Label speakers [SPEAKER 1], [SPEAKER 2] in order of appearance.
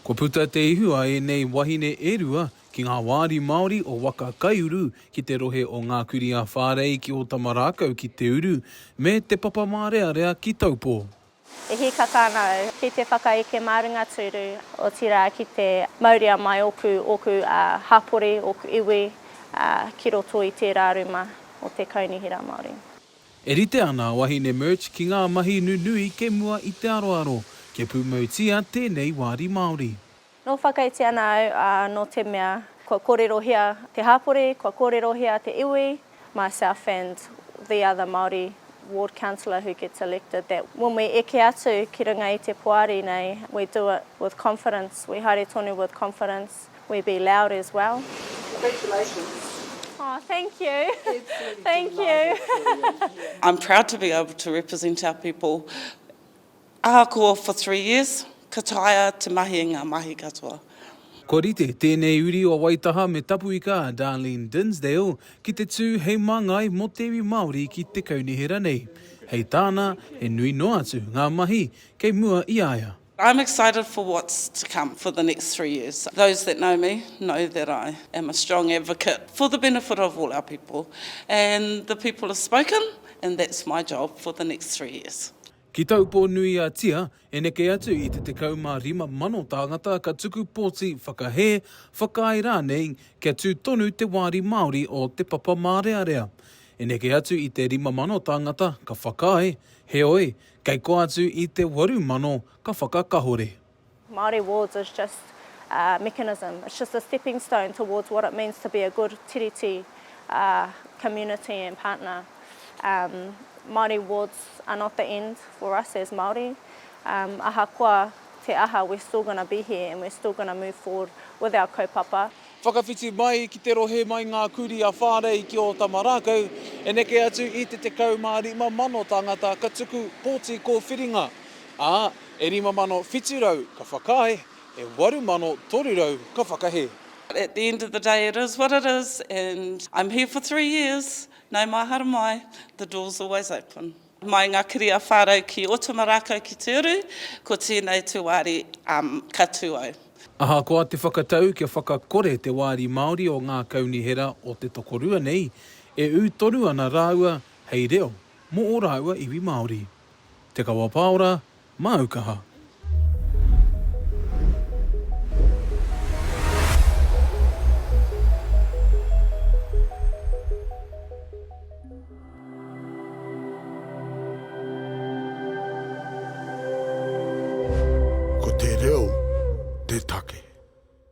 [SPEAKER 1] Kua puta te ihu a ēnei wahine e rua ki ngā wāri Māori o Waka Kaiuru ki te rohe o Ngā Kurī a Whārei ki Ōtamarākau ki Te Uru me Te Papamārearea ki Taupō. E hika
[SPEAKER 2] tāna au ki te whakaeke mā runga tūru, otirā ki te mauria mai ōku, ōku hapori, ōku iwi ki roto i tērā ruma o te Kaunihera Māori. E rite ana
[SPEAKER 1] a Wahine Murch ki ngā mahi nunui kei mua i te aroaro kia pūmautia tēnei wāri Māori. Nō whakaiti
[SPEAKER 2] ana au, ā, nō te mea, kua kōrerohia te hapori, kua kōrerohia te iwi, myself and the other Māori ward councillor who gets elected, that when we eke atu ki runga i te Poari nei, we do it with confidence, we haere tonu with confidence. We be loud as well.
[SPEAKER 3] Congratulations.
[SPEAKER 2] Oh, thank you. Absolutely thank you. I'm
[SPEAKER 3] proud to be able to represent our people. Ahakoa for three years, ka taea te mahi i ngā mahi katoa. Kua rite
[SPEAKER 1] tēnei uri o Waitaha me Tapuika a Darlene Dinsdale ki te tū hei māngai mō te iwi Māori ki te kaunihera nei. Hei tāna, he nui noa atu ngā mahi kei mua i a ia. I'm excited for
[SPEAKER 3] what's to come for the next three years. Those that know me know that I am a strong advocate for the benefit of all our people and the people have spoken and that's my job for the next three years. Ki Taupō
[SPEAKER 1] nui a Tia, e neke atu i te 15 mano tāngata ka tuku pōti whakahē, whakaae rānei kia tū tonu te wāri Māori o Te Papa Mārearea. E neke atu i te 5 mano tāngata ka whakaae, heoi, Kei kō atu i te waru mano ka whakakahore. Māori
[SPEAKER 2] Wards is just a mechanism, it's just a stepping stone towards what it means to be a good Tiriti community and partner. Māori Wards are not the end for us as Māori. Ahakoa te aha we're still going to be here and we're still going to move forward with our kaupapa. Whakawhiti mai
[SPEAKER 1] ki te rohe mai ngā kurī a Whārei ki Ōtamarākau, e neke atu i te 15,000 tāngata ka tuku pōti kōwhiringa, ā, e 5,700 ka whakaae, e 8,300 ka whakahē. At the end of the
[SPEAKER 3] day it is what it is and I'm here for three years, nau mahara mai, the door's always open. Mai nga kiri a Wharau ki Otuma rakau ki Te Uru, ko tenei te wari ka tu au. Ahakoa
[SPEAKER 1] te whakatau kia whakakore te wāri Māori o ngā kaunihera o te tokorua nei, e ū tonu ana rāua hei reo mō ō rāua iwi Māori. Te Kawa Pāora, Māu kaha.
[SPEAKER 4] Ko te reo te take.